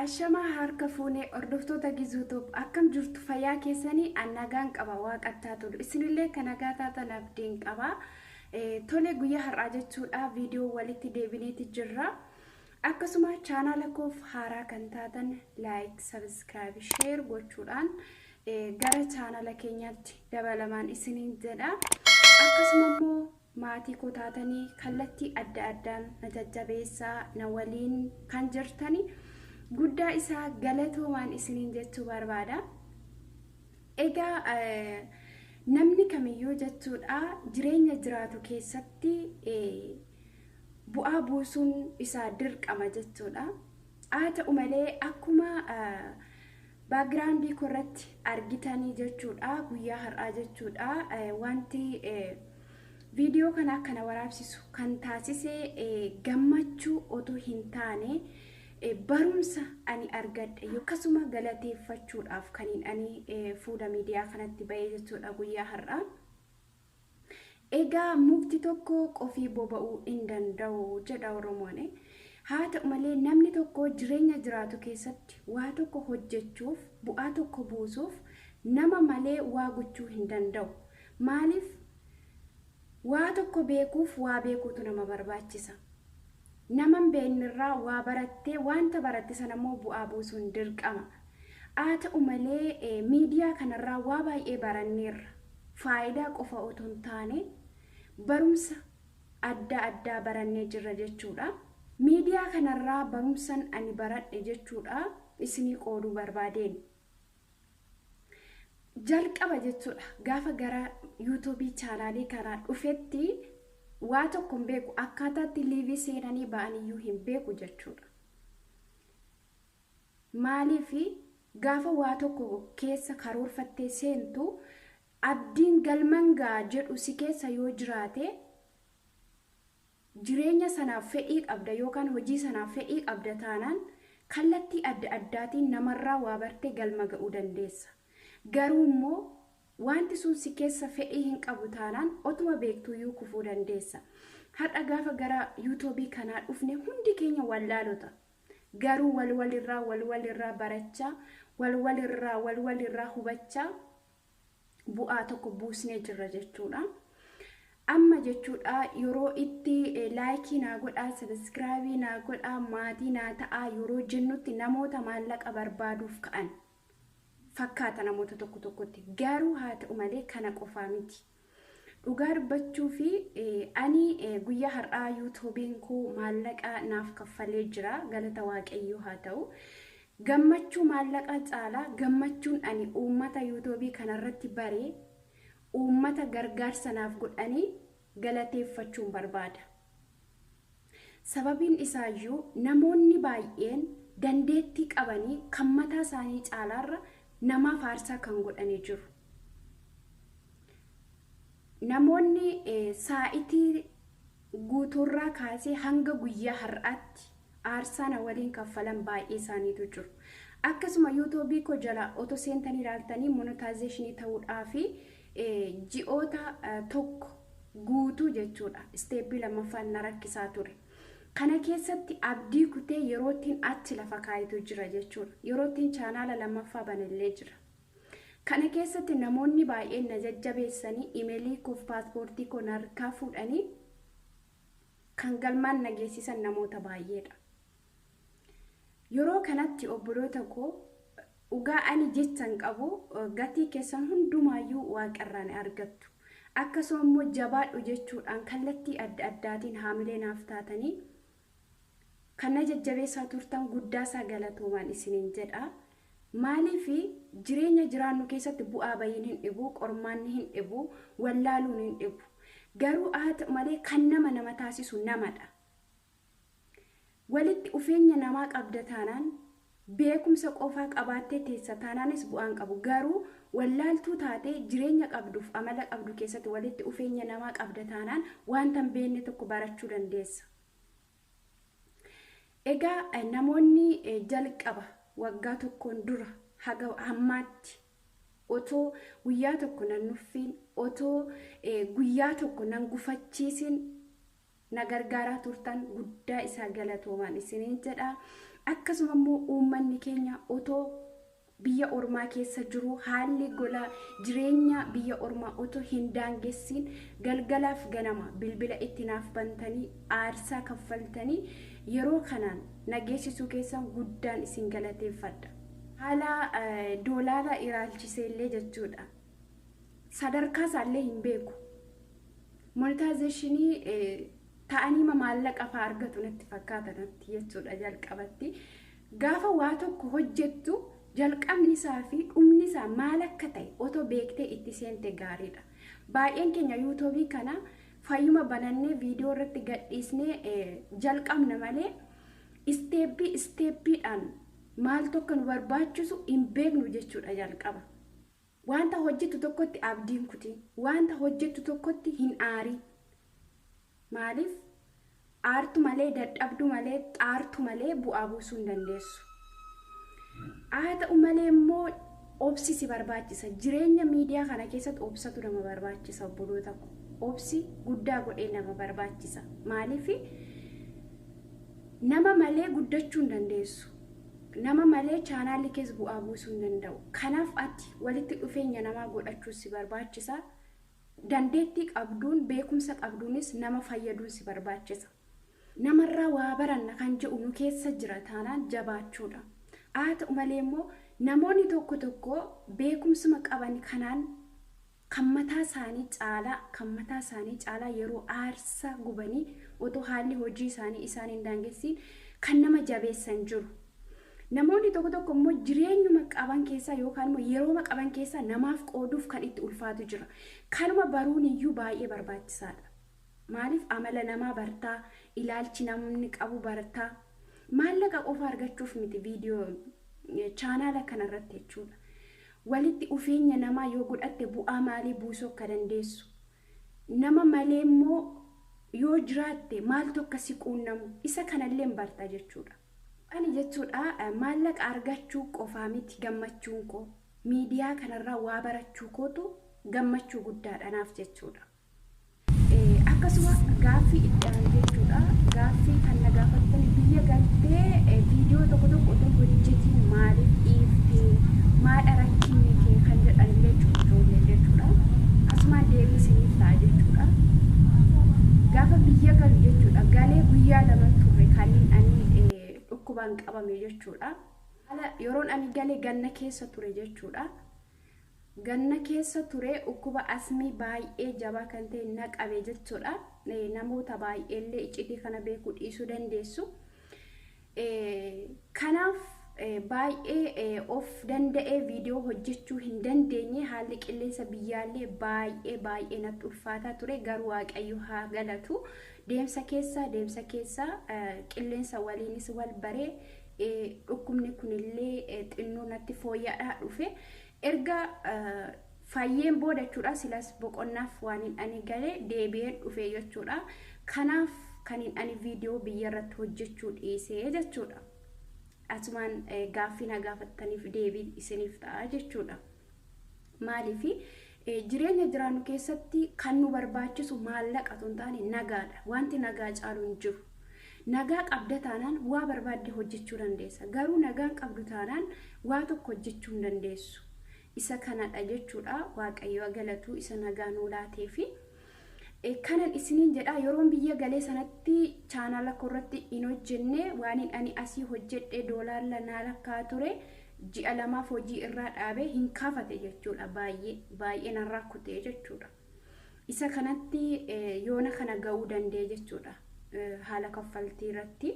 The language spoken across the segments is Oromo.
Ashamaa harka fuunee hordoftoota Gizuutoob akkam jirtu fayyaa keessanii an nagaan qaba waaqattaa tolu isinillee kan nagaa taatan abdiin qaba tole guyyaa har'aa jechuudha viidiyoo walitti deebineeti jirra akkasuma chaanaala koof haaraa kan taatan laayik sabiskiraayib sheer gochuudhaan gara chaanaala keenyaatti dabalamaan isiniin jedha akkasuma immoo Maatii koo taatanii kallattii adda addaan na jajjabeessaa na waliin kan jirtani guddaa isaa galatoomaan isiniin jechuu barbaada. Egaa namni kamiyyuu jechuudha jireenya jiraatu keessatti bu'aa buusuun isaa dirqama jechuudha. Haa ta'u malee akkuma background korratti argitanii jechuudha guyyaa har'aa jechuudha wanti viidiyoo kana akka na waraabsisu kan taasise gammachuu otoo hin taane barumsa ani argadhe akkasuma galateeffachuudhaaf kaniin ani fuula miidiyaa kanatti ba'ee jechuudha guyyaa har'aa. Egaa mukti tokko qofii boba'uu hin danda'u jedha Oromoon. Haa ta'u malee namni tokko jireenya jiraatu keessatti waa tokko hojjechuuf, bu'aa tokko buusuuf nama malee waa gochuu hin danda'u. Maaliif? Waa tokko beekuuf waa beekuutu nama barbaachisa. Nama hin beeknerraa waa barattee waanta baratte sanammoo bu'aa buusuun dirqama. Haa ta'u malee miidiyaa kanarraa waa baay'ee baranneerra. Faayidaa qofa otoo hin taane barumsa adda addaa barannee jirra jechuudha. Miidiyaa kanarraa barumsan ani baradhe jechuudha isinii qooduu barbaadeen. jalqaba jechuudha gaafa gara yuutuubii chaanaalii kanaa dhufetti waa tokko hin beeku akkaataatti liivii seenanii ba'aniyyuu hin beeku jechuudha. Maaliif gaafa waa tokko keessa karoorfattee seentu abdiin galman ga'a jedhu si keessa yoo jiraate Jireenya sanaaf fedhii qabda yookaan hojii sanaaf fedhii qabda taanaan kallattii adda addaatiin namarraa waa bartee galma ga'uu dandeessa. Garuummoo waanti sun si keessa fedhii hin qabu taanaan otuma beektuuyyuu kufuu dandeessa. Har'a gaafa gara yuutoobii kanaa dhufne hundi keenya wallaalota. Garuu wal walirraa wal walirraa barachaa, wal walirraa wal walirraa hubachaa bu'aa tokko buusnee jirra jechuudha. Amma jechuudha yeroo itti laayikii naa godhaa, sabiskiraabii naa godhaa, maatii naa ta'aa yeroo jennutti namoota maallaqa barbaaduuf ka'an fakkaata namoota tokko tokkotti. Garuu haa ta'u malee kana qofaa miti. Dhugaa dubbachuuf ani guyyaa har'aa yuutuubiin koo maallaqa naaf kaffalee jira galata waaqayyoo haa ta'u. Gammachuu maallaqa caalaa gammachuun ani uummata yuutuubii kanarratti bare uummata gargaarsa naaf godhanii galateeffachuun barbaada. Sababiin isaayyuu, namoonni baay'een dandeettii qabanii kan mataa isaanii caalaarra namaaf aarsaa kan godhani jiru. Namoonni saa'itii guutuurraa kaasee hanga guyyaa har'aatti aarsaa na waliin kaffalan baay'ee isaaniitu jiru. Akkasuma yuutuubii koo jala otoo seentanii ilaaltanii monetization ta'uudhaafi ji'oota tokko guutuu jechuudha isteeppii lammaffaan na rakkisaa ture. Kana keessatti abdii kutee yeroottiin achi lafa kaayitu jira jechuudha. Yeroottiin chaanaala lammaffaa banellee jira. Kana keessatti namoonni baay'een na jajjabeessanii imelii koof paaspoortii koo narkaa fuudhanii kan galmaan na geessisan namoota baay'eedha. Yeroo kanatti obboloota koo, dhugaa ani jechan qabu, gatii keessan hundumaayyuu Waaqa irraa ni argattu. Akkasuma immoo jabaadhu jechuudhaan kallattii adda addaatiin haamilee naaf taatanii kan na jajjabeessaa turtan guddaasaa galatoomaan isiniin jedha. Maaliif jireenya jiraannu keessatti bu'aa bayiin hin dhibu, qormaanni hin dhibu, wallaaluun hin dhibu. Garuu haa ta'u malee kan nama nama taasisu namadha. Walitti ufeenya namaa qabda taanaan, beekumsa qofaa qabaattee teessa taanaanis bu'aa hin qabu. Garuu wallaaltuu taatee jireenya qabduuf amala qabdu keessatti walitti ufeenya namaa qabda taanaan waanta hin beekne tokko barachuu dandeessa. Egaa namoonni jalqaba waggaa tokkoon dura haga hammaatti otoo guyyaa tokko nan nuffiin, otoo guyyaa tokko nan gufachiisin na gargaaraa turtan guddaa isaa galatoomaan isiniin jedha. Akkasuma immoo uummanni keenya otoo biyya ormaa keessa jiru haalli gola jireenya biyya ormaa otoo hin daangessiin galgalaaf ganama bilbila itti naaf bantanii aarsaa kaffaltanii yeroo kanaan na geessisuu keessan guddaan isin galateeffadha. Haala doolaara ilaalchisee illee jechuudha. sadarkaa isaallee hin beeku. Monetaayizeeshinii ta'aniima maallaqa fa'aa argatu natti fakkaata natti jechuudha jalqabatti. Gaafa waa tokko hojjettu jalqabni isaa fi dhumni isaa maal akka ta'e otoo beektee itti seente gaariidha. Baay'een keenya yuutuubii kana fayyuma banannee viidiyoo irratti gadhiisnee jalqabna malee isteeppii isteeppiidhaan maal tokko nu barbaachisu hin beeknu jechuudha jalqaba. Wanta hojjettu tokkotti abdii hin kutin. Wanta hojjettu tokkotti hin aarin. Maaliif? Aartu malee, dadhabdu malee, xaartu malee bu'aa buusuu hin dandeessu. Haa ta'u malee immoo obsi si barbaachisa. Jireenya miidiyaa kana keessatti obsatu nama barbaachisa obboloota ko. Obsi guddaa godhee nama barbaachisa. Maaliif? Nama malee guddachuu hin dandeessu. Nama malee chaanaalli kees bu'aa buusuu hin danda'u. Kanaaf ati walitti dhufeenya namaa godhachuun si barbaachisa. Dandeettii qabduun, beekumsa qabduunis nama fayyaduun si barbaachisa. Namarraa waa baranna kan jedhu nu keessa jira taanaan jabaachuudha. Haa ta'u malee immoo namoonni tokko tokko beekumsuma qaban kanaan kan mataa isaanii caalaa kan mataa isaanii caalaa yeroo aarsaa gubanii otoo haalli hojii isaanii isaan hin daangessiin kan nama jabeessan jiru. Namoonni tokko tokko immoo jireenyuma qaban keessaa yookaan immoo yerooma qaban keessaa namaaf qooduuf kan itti ulfaatu jira. Kanuma baruun iyyuu baay'ee barbaachisaadha. Maaliif amala namaa bartaa? Ilaalchi namni qabu bartaa? Maallaqa qofa argachuuf miti video chaanaala kana irratti jechuudha. Walitti ufeenya namaa yoo godhatte bu'aa maalii buusuu akka dandeessu, nama malee immoo yoo jiraatte maaltu akka si quunnamu isa kana illee hin barta jechuudha. Ani jechuudha maallaqa argachuu qofaa miti gammachuun koo. Miidiyaa kana irraa waa barachuu kootu gammachuu guddaadha naaf jechuudha. Akkasuma gaaffii itti aanu jechuudha. Gaaffii kan na gaafattan biyya galtee viidiyoo tokko tokko otoo hin hojjetiin maaliif dhiifte? Maadha rakkinni kee kan jedhanillee jiru ijoolleen jechuudha. Asumaan deebii isiniif ta'a jechuudha. Gaafa biyya galu jechuudha. Galee guyyaa laman turre kaniin ani dhukkubaan qabame jechuudha. Haala yeroon ani galee ganna keessa ture jechuudha. Ganna keessa ture ukkuba asmii baay'ee jabaa kan ta'e na qabe jechuudha. Namoota baay'eellee iccitii kana beekuu dhiisuu dandeessu. Kanaaf baay'ee of danda'ee viidiyoo hojjechuu hin dandeenye haalli qilleensa biyyaallee baay'ee baay'ee natti ulfaataa ture garuu waaqayyo haa galatu deemsa keessa deemsa keessa qilleensa waliinis wal baree Dhukkubni kunillee xinnoo natti fooyya'aa dhufe. Erga fayyeen booda jechuudha silas boqonnaaf waan hin ani gale deebi'een dhufe jechuudha. Kanaaf kan hin ani viidiyoo biyya irratti hojjechuu dhiisee jechuudha. Asumaan gaaffii na gaafattaniif deebii isiniif ta'a jechuudha. Maaliifi? Jireenya jiraannu keessatti kan nu barbaachisu maallaqa otoo hin taane nagaadha. Wanti nagaa caalu hin jiru. Nagaa qabda taanaan waa barbaadde hojjechuu dandeessa. Garuu nagaa hin qabdu taanaan waa tokko hojjechuu hin dandeessu. Isa kanadha jechuudha. Waaqayyo haa galatu isa nagaa nuu laateefi. Eh, kanan isiniin jedha yeroon biyya galee sanatti chaanaala koorratti hin hojjenne waanin ani asii hojjedhe doolaarla naa lakkaa ture ji'a lamaaf hojii irraa dhaabe hin kaafate jechuudha baay'ee baay'ee narraa kutee jechuudha. Isa kanatti eh, yoona kana ga'uu danda'e jechuudha eh, haala kaffaltii irratti.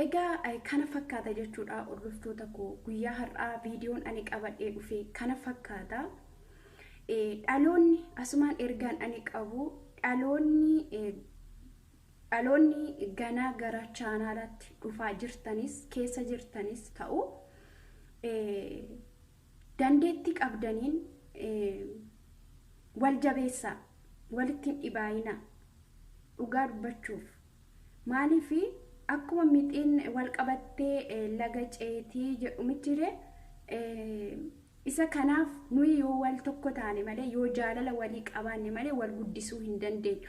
Egaa eh, kana fakkaata jechuudha hordoftoota koo guyyaa har'aa viidiyoon ani qabadhee dhufe kana fakkaata. Eh, Dhaloonni asumaan ergaan ani qabu dhaloonni eh, dhaloonni ganaa gara chaanaalaatti dhufaa jirtanis keessa jirtanis ta'u eh, dandeettii qabdaniin eh, wal jabeessaa walitti hin dhibaayina dhugaa dubbachuuf Maaliif akkuma mixiin wal qabattee laga ceetii jedhu mitire isa kanaaf nuyi yoo wal tokko taane malee yoo jaalala walii qabaanne malee wal guddisuu hin dandeenyu.